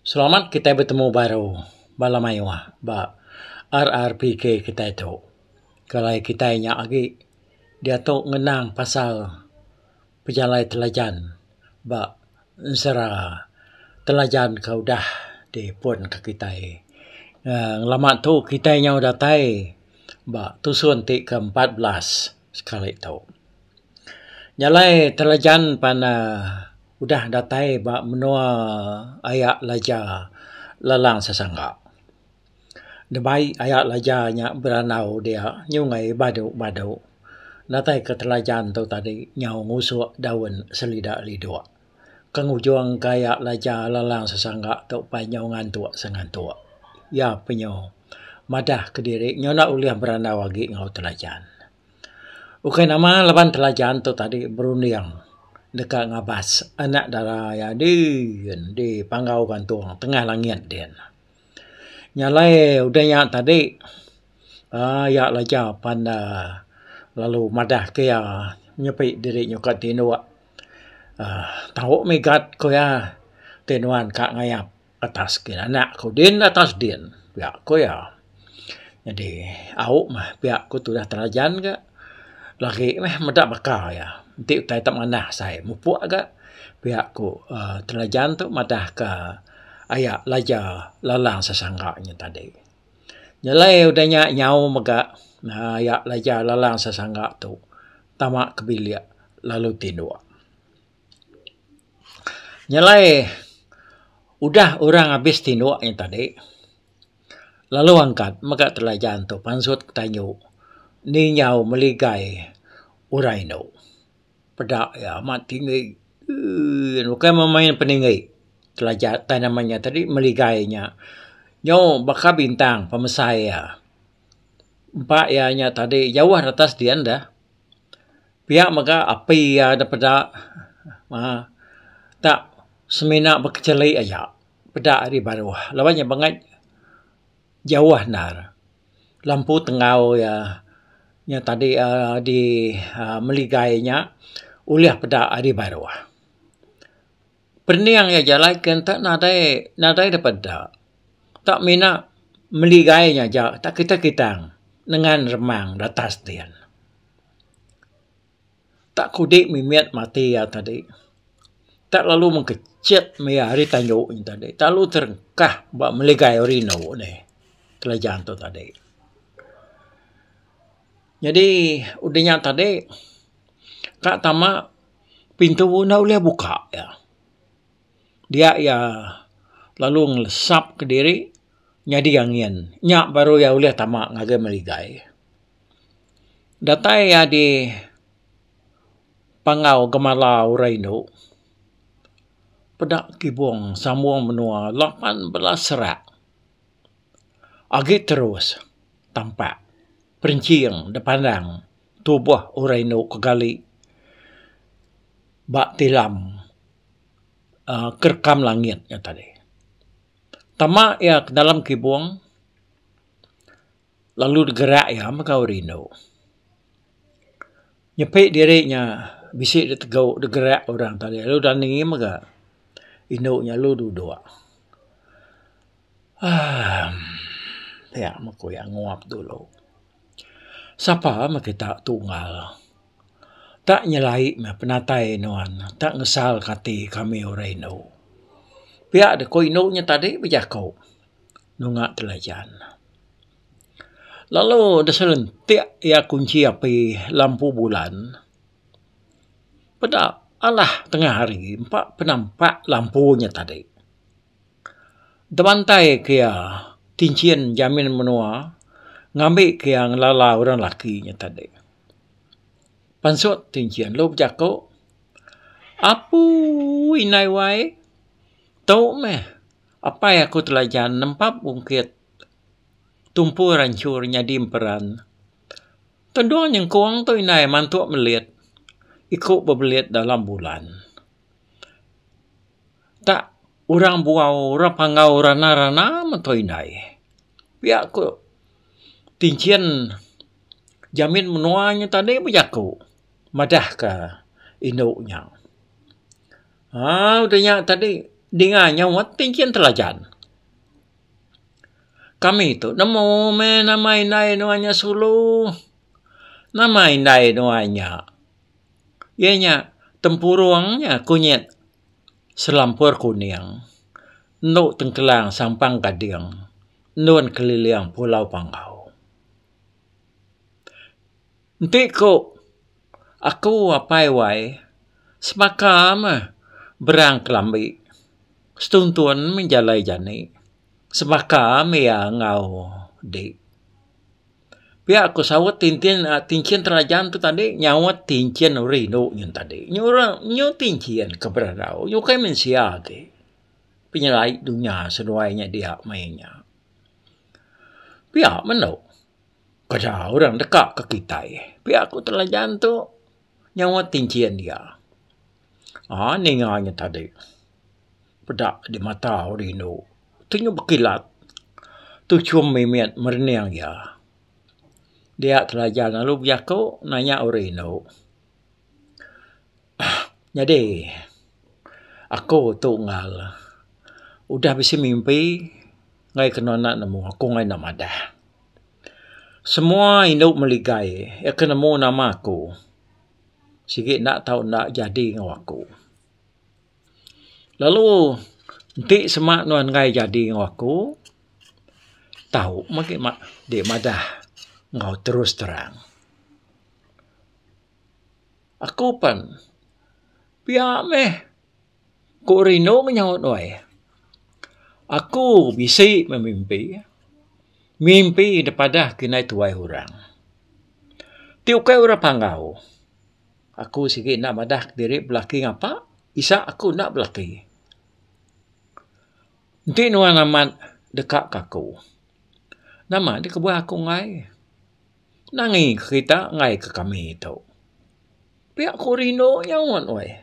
Selamat kitai betemu baru bala mayuh ba RRPK kitai tu. Kalai kitai nya agi diatu ngenang pasal pejalai telajan ba ensera telajan ke udah dipun ka kitai. Ngelama tu kitai nyau datai ba tusun ti ke empat belas. sekali tu. Nya alai Telajan pan uhh udah datai ba menua aya Laja Lalang Sesanga. Dibai aya Laja nya berandau dia nyungai badu badu. Datai ke Telajan tu tadi nyau ngusok daun selida lidok. ke ngujung gaya laja lalang sesangga tu upai nyau ngantuk sengantuk. Iya penyu madah kediri nyau enda ulih berandau agi enggau telajan. Ukai nama laban telajan tu tadi berunding deka ngabas anak dara iya dii endi panggau gantung tengah langit din. Nya alai udah nya tadi um iya laja pan da lalu madah ke iya nyepi diri nyukat tinduk uhh tau mih gat ku iya ti nuan ka ngayap atas kinanak ku din atas din pia ku iya. Nyadi au mah pia ku tudah terajan ga lagi mih meda baka iya enti utai ta manah sai mupuk ga pia ku uhh terajan tu madah ka aya laja lalang sesangga nya tadi. Nyelai udah nya nyau mega uhh aya laja lalang sesangga tu. tama ke bilik lalu tinduk. Nyelai udah orang abis tinduk ayen tadi lalu angkat mega telajan tu pansut tanyu ni nyau meligai orang indu. Peda iya amat tinggi emm bukai meh main peninggi telaja tai nama iya tadi meligai iya. Nyau baka bintang pemesai iya. empa iya nya tadi jauh retas dian deh. Pia mega api iya deh peda uhh tak semina bekecheli aja peda ari baruh laban iya bangat jauh endar. Lampu tenggau iya nya tadi uhh di uhh meligai nya ulih peda ari baruh. pening iya jalai ke enta nadai nadai da peda tak mina meli gai nya aja tak kitai kitang nengan remang da atas din. Tak kudi mimit mati iya tadi tak lalu mengkechet maya hari tandu nya tadi tak lalu terengkah ba meli gai orang inu ni kereja tu tadi. Nyadi udah nya tadi ka tama pintu enda ulih buka iya. Dia iya lalu ngelesap kediri nyadi angin. Nya baru iya ulih tama ngagai meligai. Datai iya di Panggau Gemala Orang Indu peda kibong sambung menua lapan belas rak agi terus tampak perinching dipandang. tubuh orang indu ke gali ba tilam um kerekam langit nya tadi. Tama iya ke dalam kibung lalu digerak iya mega orang indu. Nyepi diri nya bisi da tegau da gerak orang tadi lalu dani mega indu nya lalu duduk. Um pia meh ku iya nguap dulu. Sapa meh kita tunggal ta nyelai meh penatai nuan ta ngesal ka ati kami orang indu. Pia deh ku indu nya tadi bejaku nunga telajan. Lalu deh selentik iya kunchi api lampu bulan peda alah tengah hari empa penampak lampu nya tadi. Demantai ke iya tinchin jamin menua ngambi ke iya ngelala orang lelaki nya tadi. Pansut tinchin lalu bejaku, Apuuh indai wai, tu meh apai aku Telajan nempap ungkit tumpu ranchur nyadi emperan. Tendung nyengkung tu indai mantu melit iku bebelit dalam bulan. Dak orang bual orang panggau rana rana men tau indai. Pia ko tinchen jamin menua nyen tadi be jako madah ka indu nya. Au de nya tadi dinga nya wat tinchen telajan. Kami tu nemu meh nama indai nua nya sulu. Nama indai nua nya. iya nya tempurung nya kunyit selampur kuning endo tengkelang sampang gading endun keliling pulau panggau. Enti ku aku apai wai sebaka meh berang kelambi setuntun meh jalai jani sebaka mih iya enggau dik. Pia ku saut tintin um tinchin terajam tu tadi nyaut tinchin uri indu nyin tadi. Nyu ra nyu tinchin ke berandau nyu ukai mensia agi. Penyelai dunya seduai nya dia maya nya. Pia menu peda orang deka ke kitai. Pia ku telajan tu nyaut tinchin dia. aaa ninga nya tadi peda di mata ori anu tu nya bekilat tu chum mimit merening iya dia telajar lalu bejaku nanya ori anu nyadi aku tu ngal udah bisi mimpi ngai ke nona nemu aku ngai enda madah semua indu meligai iya ke nemu nama aku. sigi enda tau enda jadi enggau aku. Lalu enti sema nuan enggai jadi enggau aku tau meh agi deh madah enggau terus terang. Aku pen pia meh. Ku Rino nyaut wai. Aku bisi bemimpi. Mimpi dek padah ke indai tuai orang. Ti ukai orang panggau. Aku sigi enda madah diri belaki ngapa. Isa aku enda belaki. Enti nuan amat deka ke aku. Nama dek kebuah aku enggai. Nangi kerita enggai ke kami tu. Pia ku rindu nyaut weh.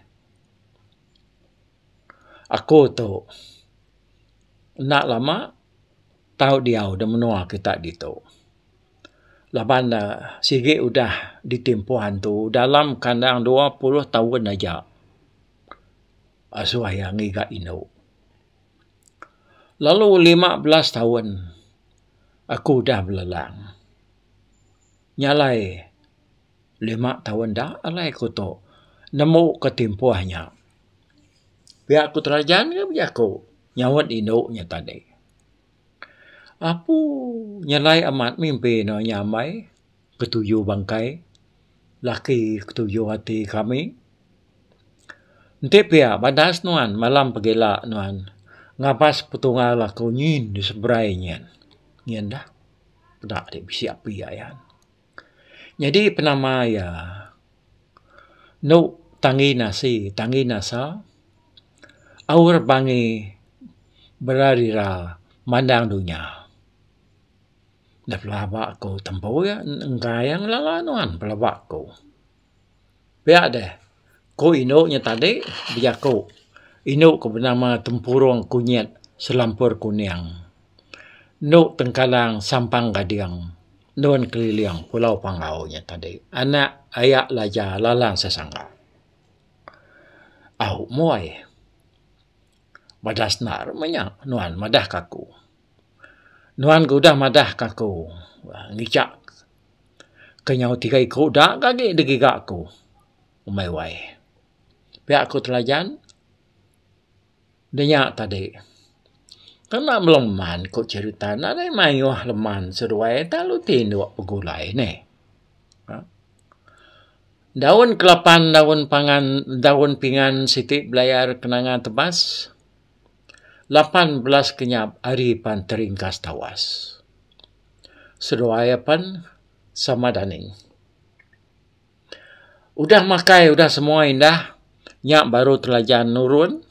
Aku tu enda lama tau diau da menua kita ditu. Laban ne sigi udah ditin puan tu dalam kandang dua puluh taun aja asu aya ngiga indu. lalu lima belas taun aku udah belelang nya alai lima taun da alai ku tu nemu ka timpuh nya pia ku terajan ke bejaku nyaut indu nya tadi. Apu nya alai amat mimpi ne nya amai. ketuju bangkai, laki ketuju ati kami. Enti pia badas nuan malam pegila nuan ngabas petungal aku nyin di seberai nyin. Nyin dah peda ati bisi api aya. Nyadi penama iya enu tangi nasi tangi nasa aur bangi bera dira mandang dunya. Da pelaba ku tembu iya enggai iya ngelala nuan pelaba ku. Pia deh ku indu nya tadi bejaku indu ku benama tempurung kunyit selampur kuning endu tengkalang sampang gading nuan keliling pulau pangau nya tadi anak aya laja lalang sesanga. Au moy madas enda mah nya nuan madah ka aku. Nuan ke udah madahka aku ngicak ke nyau tiga iku da ga agi digiga aku umai wai. Pia ku telajan dinya tadi. Tuna meleman ku cherita ne nadai mayuh leman seduai lalu ti enda begulai neh. Aaa. Daun kelapan daun pangan daun pingan siti belayar kenangan tebas. Lapan belas kenyap ari pan teringkas tawas. Seduai apan sama daning. Udah makai udah semua indah, nya baru telaja nurun.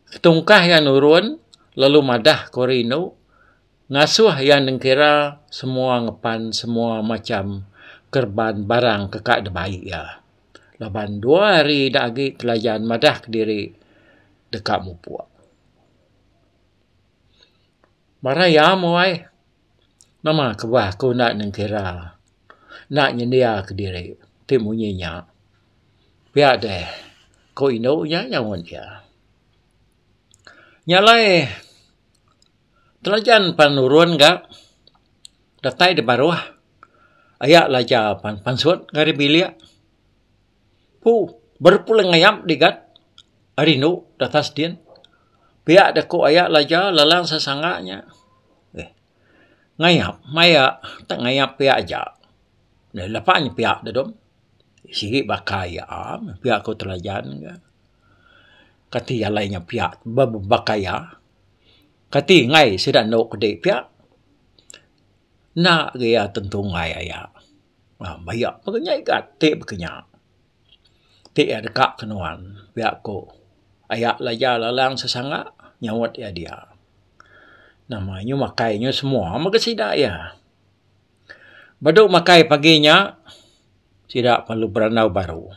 Ketungkah iya nurun, lalu madah ke ori indu, ngasuh iya nengkira semua ngepan semua macham kereban barang ke ka dibai iya. laban dua hari ida agi telayan madah kediri deka mupuk. Marai iya moh ai. Nama kebah aku enda nengkira enda nyendia kediri ti munyi nya. Pia deh ku indu nya nyaut iya. Nya alai. Telajan pan nurun ga datai di baruh aya laja pan pansut ari bilik pu berpulang ayam digat ari rindu di atas din pia da ku aya laja lalang sesanga nya eh ngayap maya tak ngayap pia aja lepa nya pia da dom sigi baka iya am pia ku telajan ga kati alai nya pia ba baka iya. Kati enggai sida enda kudi pia enda ga iya tentu enggai aya uhh baia pun nya iga ti baka nya ti iya deka ke nuan pia ku aya laja lalang sesanga nyaunt iya dia nama inya makai inya semua mega sida iya. Badu makai pagi nya sida perlu berandau baru.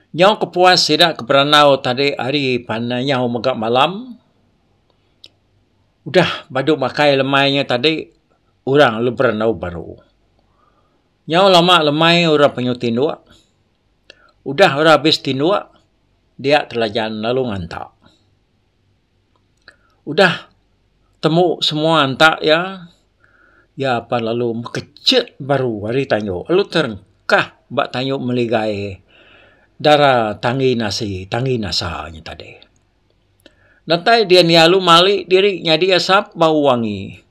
Nyau kepuas sida ke berandau tadi hari panai nyau mega malam udah badu makai lemai nya tadi orang lu berandau baru. Nyau lama lemai orang panyau tinduk udah orang habis tinduk dia telajan lalu nganta. Udah temu semua enta iya, iya apan lalu mekechek baru ari tanyu lalu terengkah ba tanyu meligai dara tanggi nasi tanggi nasa nya tadi. Datai dian iya lalu mali diri nyadi asap bau wangi.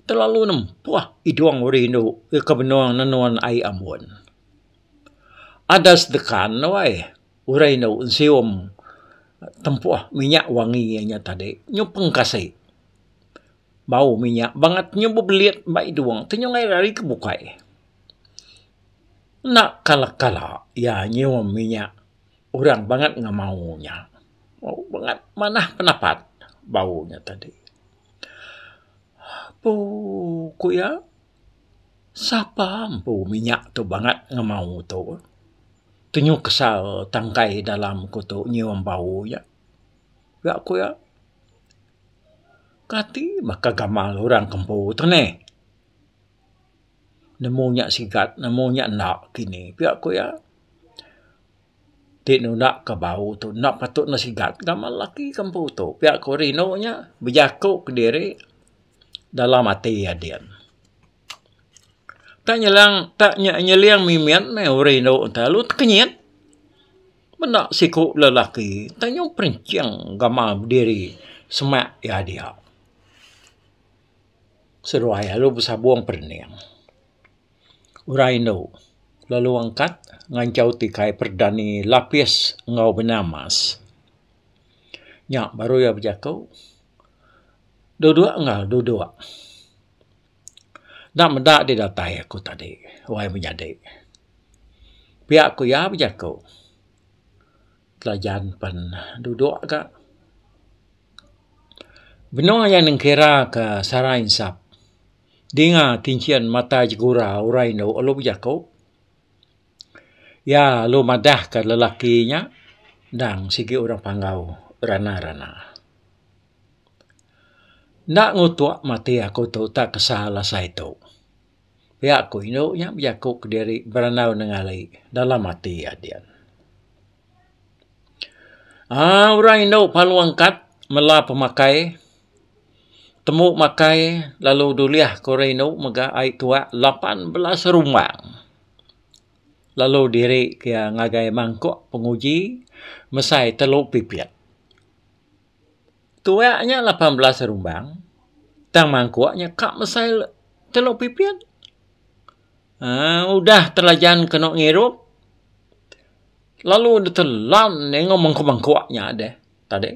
Telalu nempuh idung uri indu ke benung nenun ai ambun. Adas dekan wai. Urai enda u nsium tempuh minyak wangi iya nya tadi nyupeng kasi bau minyak bangat nyu bebelit ba idung ti nyu ngair ari ke bukai. Enda kala kala iya nyium minyak orang bangat ngemau nya. Bau bangat manah penapat bau nya tadi. Apu ku iya. Sapa empu minyak tu bangat ngemau tu. Tunyuk kesal tangkai dalam ku tu nyium bau nya. Ga ku iya, kati baka gamal orang ke empu tu neh. Nemu nya sigat nemu nya enda kini. Pia ku iya, ti nunda ke bau tu enda patut ne sigat gamal laki ke empu tu. Pia ku rindu nya bejaku kediri. dalam ati ading. Tak nyelang tak nye nyeling mimin meh uri endo lalu tekenyit. Meda siku lelaki tak nyau perinching gamal bediri semak iya dia. Seduai lalu besabong perening. Ura endo lalu angkat ngancau ti kai perdani lapis enggau benang emas. Nya baru iya bejaku. Duduk enggau duduk. Enda meda di datai aku tadi wai menyadi. Pia ku iya bejaku. Telajan pen duduk ga. Benung iya nengkira ke sara insap dinga kinchin mata jegura orang indu lalu bejaku iya lalu madah ke lelaki nya endang sigi orang panggau rana-rana. Enda ngutuk mati aku tu tak kesal asai tu. Pia ku indu nya bejaku kediri beranau nengari dalam ati iya dian. Aaa orang indu palu angkat mela pemakai tembu makai lalu dulih ku orang indu mega ai tuak lapan belas rumbang. Lalu diri ke iya ngagai mangkuk penguji mesai telu pipit. tuak nya lapan belas rumbang tang mangkuk nya ka mesai telu pipit um udah telajan kenu ngirup lalu ditelan enggau mangkuk mangkuk nya deh tadi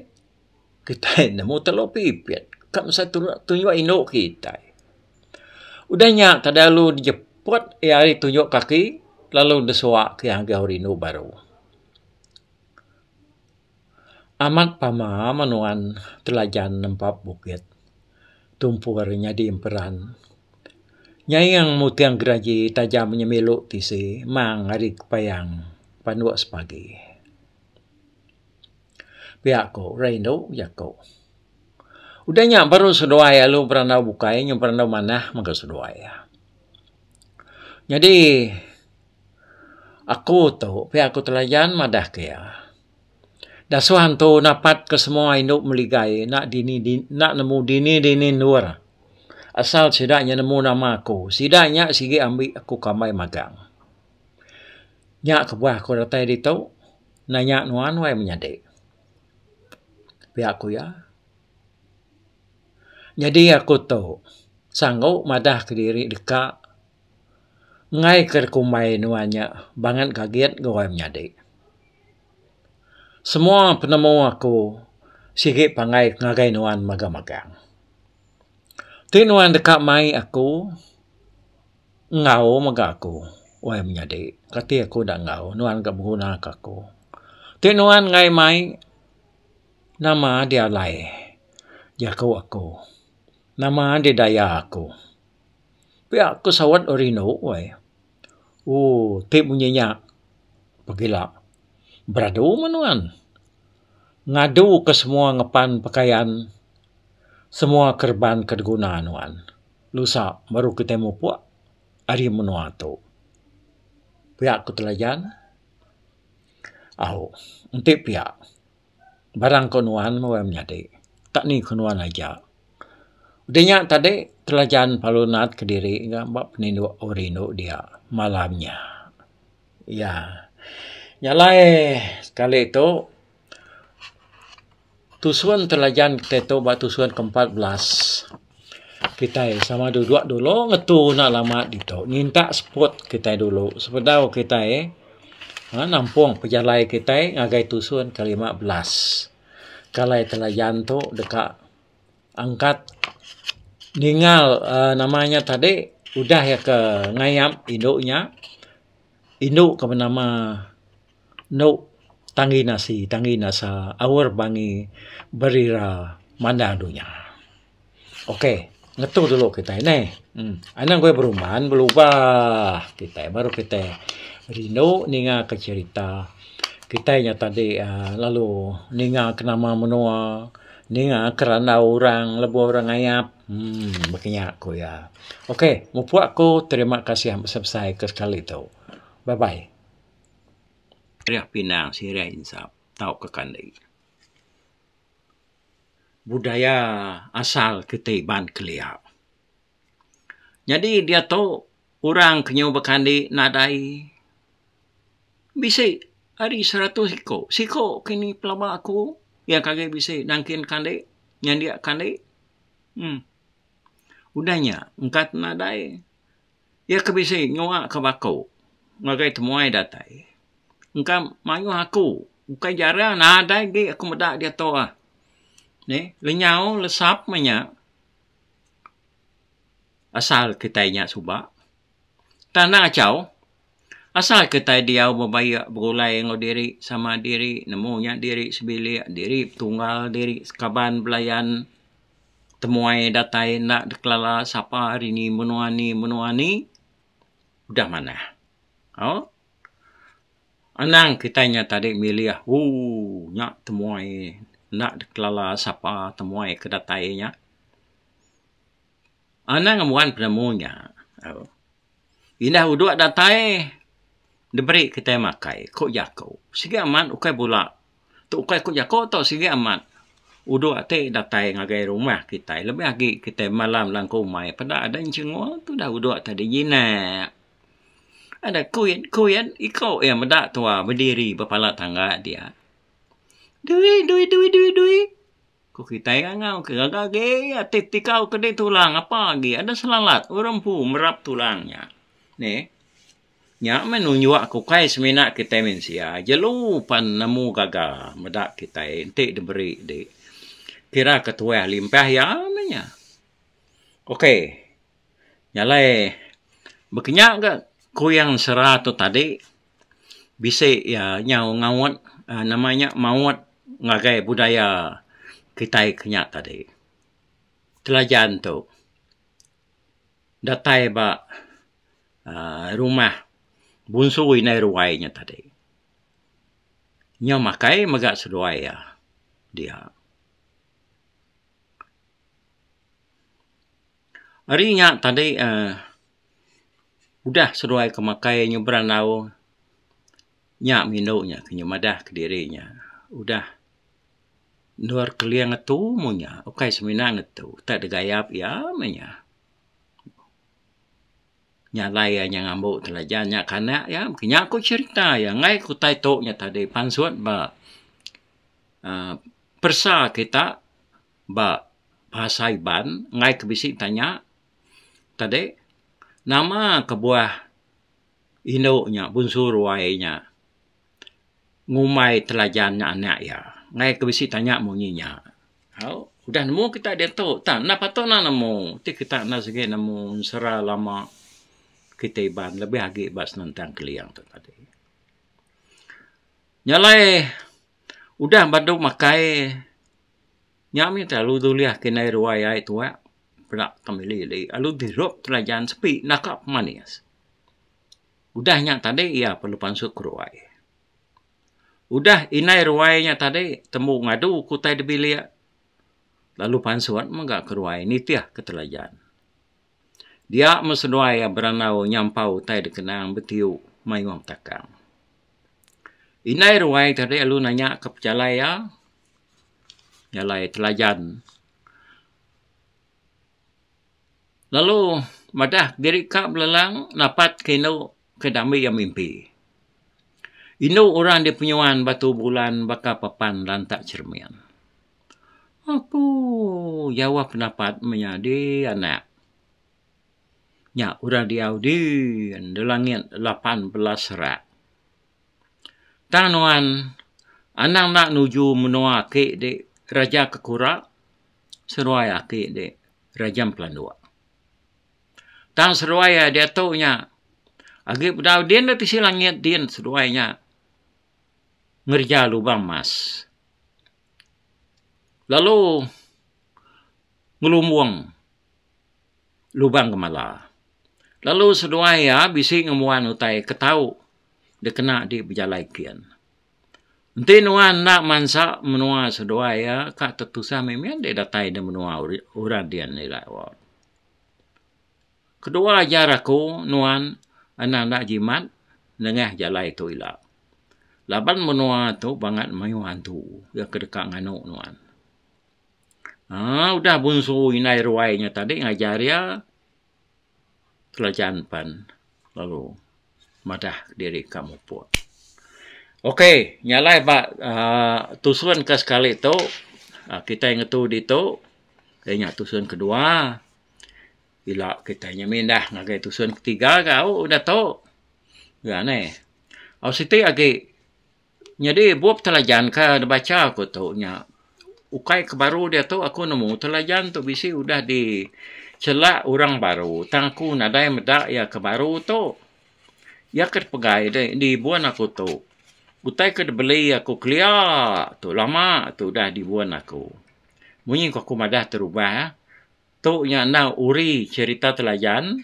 kitai nemu telu pipit ka mesai tunjuk indu kitai udah nya tadi lalu dijeput ari tunjuk kaki lalu disuak ke agau rindu baru. Amat pama meh nuan telajan nempa bukit tumpur nyadi emperan nyaing mutong geraji taja nyemilu tisi mang ari kepayang panu sepagi. Pia ku orang indu jaku udah nya baru seduai lalu berandau bukai nyau berandau manah mega seduai. Nyadi Aku tu pia ku telayan madah ke iya. Dasuh antu napat ke semua indu meligai enda dini dini enda nemu dini dini endur asal sida nya nemu nama aku. Sida nya sigi ambi aku kambai magang. Nya kebuah aku datai ditu nanya nuan wai menyadi. Pia ku iya. Nyadi aku tu sanggup madah kediri deka. ngaika dikumbai nuan nya bangat gagit enggau orang menyadi. Semua penemu aku sigi pangai ngagai nuan magang-magang. Ti nuan deka mai aku enggau mega aku orang menyadi. Kati aku enda enggau nuan deka begunaka aku. Ti nuan enggai mai nama adi alai jaku aku. Nama adi daya aku. pia ko sawat ori inu wai ooh ti munyi nya pegila beradu meh nuan ngadu ke semua ngepan pekayan semua kereban ke diguna nuan nusa baru kitai mupok ari menua tu pia ko telajan au enti pia. barang ko nuan meh wai menyadi tak ni ko nuan aja. Udah nya tadi telajan pelalu nat kediri ga ba peninduk au rindu dia malam nya. Ya nya alai sekali tu tusun telajan kitai tu ba tusun ke empat belas. Kitai sama ada dua dulu ngetu enda lama ditu nyinta spot kitai dulu sebedau kitai uhh nampung pejalai kitai ngagai tusun ke lima belas. Kalai telayan tu deka angkat ningal uhh nama nya tadi udah iya ke ngayap indu nya. Indu ke benama. Enu tanggi nasi tanggi nasa aur bangi berira mandar dunya. Ok ngetu dulu kitai neh uhh anak kitai beruman belubah kitai baru kitai rindu ninga ke cherita kitai nya tadi uhh lalu ninga ke nama menua ninga ke randau orang lebuh orang ngayap uhh meh kinya ku iya. Ok mupuk aku terima kasih besai-besai ke sekali tu. Bye bye. Sirih pinang, sirih insap tauka kanding. Budaya asal kitai Iban kelia. Nyadi diatu orang ke nyau bekandi nadai bisi ari seratus iko. Siko kini pelaba ko iya ke agi bisi nangkin kandi nyandia kandi. Um udah nya engka te nadai Iya ke bisi nyuaka ba aku ngagai temuai datai engka mayuh aku bukai jarang nadai agi aku meda diatu ah neh lenyau lesap meh nya asal kitai nya suba tanang achau asal kitai diau bebayak begulai enggau diri sama diri nemu nya diri sebilik diri betunggal diri sekaban belayan temuai datai enda dikelala sapa ari ni menua ni menua ni udah manah. Au anang kitai nya tadi milih ooh nya temuai enda dikelala sapa temuai ke datai nya. Anang mbuan penemu nya. Indah uduk datai diberi kitai makai ko jako sigi amat ukai bula tu ukai ko jako to sigi amat uduk ti datai ngagai rumah kitai lebih agi kitai malam langkau umai peda ada chengo tu dah uduk ti di jinak. Ada kuit kuit iko ia meda tuwa bediri bepala tangga dia. Dui dui dui dui dui. Ku kitai nya enggau ke gaga agi ati tikau ke di tulang apa agi ada selalat orang empu merap tulang nya. Neh. Nya meh nunjuk aku ukai semina kitai mensia jelu pan nemu gaga meda kitai enti diberi di kira ke tuah limpah iya meh nya. Okay. Nya alai bekinya ga kuyang sera tu tadi. bisi iya nyau ngaut um nama iya maut ngagai budaya kitai ke nya tadi. Telajan tu datai ba um rumah bunsu indai ruai nya tadi. Iya makai mega seduai iya dia. Ari nya tadi um udah seduai ke makai nyebrang aung nya meh indu nya ke madah kediri nya udah endur keling ngetu mung nya ukai semina ngetu utai da gayap iya meh nya. Nya alai iya nya ngambu telajan nya kana iya meh nya ku cherita iya enggai ku utai tu nya tadi pansut ba um peresa kita ba bahasa Iban enggai ke bisi tanya Tadi, nama kebuah indu nya bunsu ruai nya ngumbai telajan nya anak iya? Ngai ke bisi tanya munyi nya. Au, udah nemu kita diatu tang. Enda patut enda nemu. Ti kita enda sigi nemu ensera lama kita Iban lebih agi ba senentang Keling tu tadi. Nya alai udah badu makai Nya mih te alu dulih ke indai ruai ai tuak peda pemili di alu dirup telajan sepi naka pemanis. Udah nya tadi iya pa lu pansut ke ruai. Udah indai ruai nya tadi tembu ngadu ke utai di bilik lalu pansut mega ke ruai nitih ke telajan. Dia me seduai iya berandau nyampau utai dikenang betiup mayuh takang. Indai ruai tadi alu nanya ke pejalai iya jalai telajan. Lalu madah diri ka belelang napat ke inu ke dami iya mimpi. Inu orang dipenyuan batu bulan baka papan lantak cermin. Apuuh jauh pendapat meh nya dii anak. Nya orang diau dii nda langit lapan belas rak. Tang nuan anang enda nuju menua ake di Raja Kekura seruai ake di Raja Empelanduk. Tang seruai iya diatu nya agi bedau din da tisi langit din seduai nya ngereja lubang emas lalu ngelumbung lubang gemala. Lalu seduai iya bisi ngembuan utai ke tau dikena di bejalai kin. Enti nuan enda mansa menua seduai iya ka tetusah mih mih enti datai di menua orang din ira awak. Kedua jar aku nuan enda enda jimat nengah jalai tu ila. Laban menua tu bangat mayuh hantu iya ke deka nganu nuan. Haa udah bunsu indai ruai nya tadi ngajar iya kerajaan pan lalu madah diri ka mupuk. Ok nya alai ba aaa tusun ke sekali tu aaa kitai ngetu ditu dai nya tusun kedua ila kitai nya mindah ngagai tusun ketiga gau udah tu. Nya alai. Au siti agi Nyadi bup Telajan ke dibacha aku tu nya ukai ke baru diatu aku nemu Telajan tu bisi udah dichelak orang baru tang aku nadai meda iya ke baru tu. Iya ke dipegai di di bun aku tu utai ke dibeli aku kelia tu lama tu udah di bun aku. Munyi ku aku madah terubah. Tu nya endang uri cherita telayan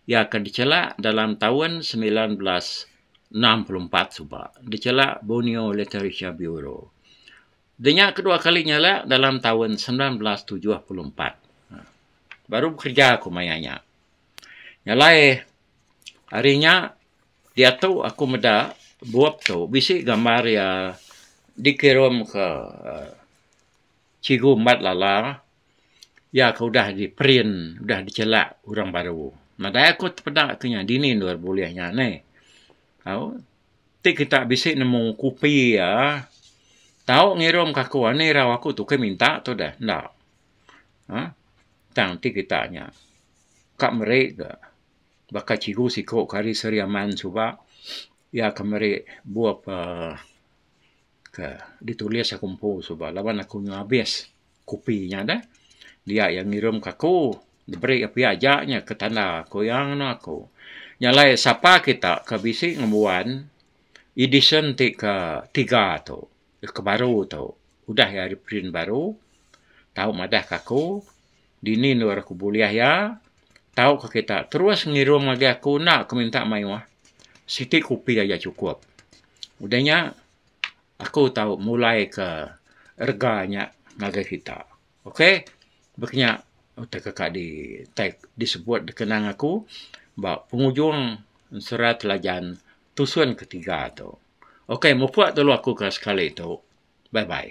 iya ke dichela dalam taun semilan belas enam puluh empat suba dichela Borneo Literature Bureau. Da nya kedua kali nyela dalam taun semilan belas tujuh puluh empat. Baru bekereja aku maya nya. Nya alai hari nya diatu aku meda bup tu bisi gambar iya dikirimka cikgu Mat Lala. iya ke udah di print, udah dicelak urang baru. Nadai aku tepeda ke nya dini endur dulu bulih nya neh. Au, ti kita bisi nemu kopi iya, tau ngirum ke aku anih irau aku tu ke minta tu deh. Enda. Um Tang ti kita nya ka meri ke baka cikgu siko ke ari Sri Aman suba iya ke meri bup um ke ditulis aku empu suba laban aku nyu abis. kopi nya deh. Dia iya ngirum ke aku, diberi iya pia aja nya ke tanda aku iya ngena aku. Nya alai sapa kita ke bisi ngembuan edisyen ti ke tiga tu, ke baru tu, udah iya reprint baru, tau madah ke aku dini endur aku bulih iya, tau ke kita terus ngirum lagi aku enda ke minta mayuh. Siti kopi aja chukup. Udah nya, aku tau mulai ke rega nya ngagai kita. Ok, baka nya utai ke kadi tai disebut dikenang aku ba pengujung sera telajan tusun ke tiga tu. Ok, mupuk telu aku ke sekali tu. Bye bye.